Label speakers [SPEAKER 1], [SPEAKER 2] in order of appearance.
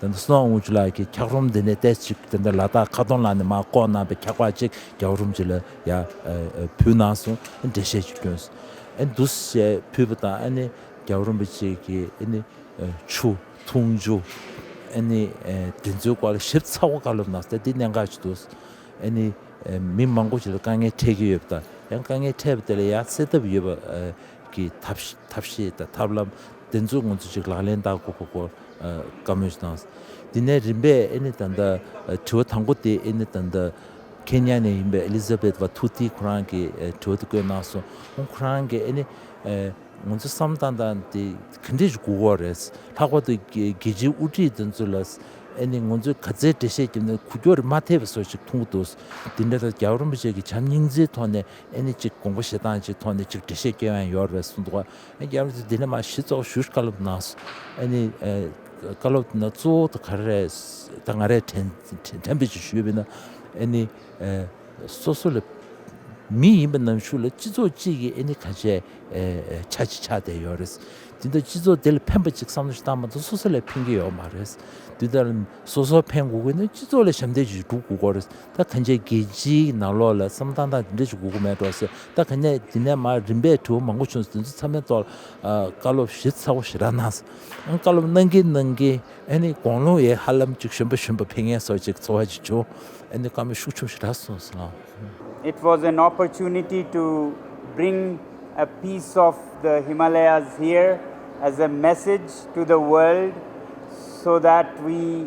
[SPEAKER 1] དེ་ནས་སུན་ཨུང་ཅུ་ལགས་ཀྱིས་འཁྱགས་རོམ་འདི་ནས་ལྟས་ཅིག་དེ་འདྲ་ལ་དྭགས་ཁ་སྟོང་ལ་ནས་མ་བཀོག་གནང་པའི་འཁྱགས་པ་ཅིག་འཁྱགས་རོམ་ཅིག་ལ་ཡ་ཕུལ་གནང་སོང་འགྲེལ་བཤད་ཅིག་བསྐྱོན་ཨེ་འདུག་ཞེས་ཕུལ་བ་དང་ཨེ་ནི་འཁྱགས་རོམ་པ་ཅིག་གིས་ཨེ་ནི་ཆུ་འཐུང་རྒྱུ་ཨེ་ནི་དེ་ཚོའི་སྐོར་ལ་ཞིབ་ཚགས་པོ་བཀའ་སློབ་གནང་སྟེ་འདི་གནད་འགག་ཅིག་འདུག་ཨེ་ནི་མི་མང་པོ་ཞིག་ལ་དཀའ་ངལ་འཕྲད་ཀྱི་ཡོད་པ་དང་ཡང་དཀའ་ངལ་འཕྲད་པ་དེ་ལ་ཡང་སེལ་ཐབས་ཡོད་པ་གི་ཐབས་ཤེས་དང་ཐབས་ལམ་དེ་ཚོ་ང་ཚོས་ཅིག་ལག་ལེན་བསྟར་དགོས་པ་སྐོར་བཀའ་མོས་གནང། དེ་ནས་རིམ་པས་ཨེ་ནི་ད་ལྟ་དྲི་བ་དང་པོ་དེ་ཨེ་ནི་ད་ལྟ་ཁེན་ཉཱ་ནས་ཡིན་པའི Elizabeth བ་ཐུ་ཐི་ཁོ་རང་གི་དྲི་བ་དེ་བཀོད་གནང་སོང་ཁོང་ཁོ་རང་གིས་ཨེ་ནི་ང་ཚོ་བསམ་བཏང་བཏང་དེ་ག་འདྲས་ཀྱི་དགོས་མཁོ་རེད། ལྷག་པར་དུ་རྒྱལ་སྤྱིའི་དབུ་ཁྲིད་དེ་ཚོ་ལ་ཨེ་ནི་ང་ཚོས་ག་ཚད་འགྲེལ་བཤད་བརྒྱབ་ནས་གུ་ཀྱོག་རེ་མ་ཐེབས་པ་སོགས་ཅིག་མཐོང་གི་འདུག་དེ་འདྲ་ལ་རྒྱ་གར་རིན་པོ་ཆེ་གི་བྱམས་སྙིང་རྗེའི་ཐོག་ནས་ཨེ་ནི་གཅིག་དགོངས་པ་བཞེས་སྟངས་ཀྱི་ཐོག་ནས་གཅིག་འགྲེལ་བཤད་སྐྱེལ་བ་ཡང་ཡོད་རེད་གསུངས་འདུག་ཨེ་རྒྱ་མི་ཚོས་འདི་ནས་མ་གཞི་ཚོགས་ཞུགས་བཀའ་སློབ་གནང་སོང་ཨེ་ནི་བཀའ་སློབ་དེ་ནང་གཙོ་བོ་དང་ག་རེ་རེད་ད་ང་རེ་དྲན་དྲན་པོ་ཅིག་ཞུས་པས་ན་ཨེ་ནི་སོ་སོ་ལ་མི་ཡིན་པ་ནང་ཞུགས་ལ་སྤྱི་ཚོགས་གཅིག་གིས་ཨེ་ནི་ག་ཆད་ཆ་ཅིག་ཆགས་བསྡད་ཡོད་རེད་དེ་འདྲ་སྤྱི་ཚོགས་དེ་ལ་ཕན་པ་ཅིག་བསམ་བློ་ཞིག་བཏང་མ་ཐག་སོ་སོ་ལས་ཕན་གྱི་ཡོད་མ་རེད་དེ་ལྟར་སོ་སོ་ཕན་དགོས་དགོས་ན་སྤྱི་ཚོགས་ལ་ཞབས་འདེགས་ཞིག་སྒྲུབ་དགོས་དགོས་རེད་ད་ག་མཇལ་རྒྱལ་སྤྱིའི་ནང་ལོགས་ལ་བསམ་བཏང་སྟངས་དེ་འདྲ་ཞིག་གོ་གི་མེད་འགྲོ་ཟེར་ད་ག་ནས་དེ་ནས་མ་རིན་པས་དྲི་བ་མང་པོ་བྱུང་སོང་དེ་ཚོ་ཚང་མའི་ཐོག་ལ་བཀའ་སློབ་གཞི་ཚ་བོ་ཞིག་རག་གནང་སོང་ཨང་བཀའ་སློབ་གནང་གིན་གནང་གིན་ཨ་ནི་དགོངས་ཀློང་ཡའི་ཧ་ལམ་ཅིག་གཞོན་པ་གཞོན་པ་ཕན་ངན་སོགས་ཅིག་འཚོ་བ་ཅིག་བྱུང་ཨ་ནི་བཀའ་མོལ་ཤུགས་ཆུང་ཞིག་རག་སོང་ཟེར། It
[SPEAKER 2] was an opportunity to bring a piece of the Himalayas here as a message to the world so that we.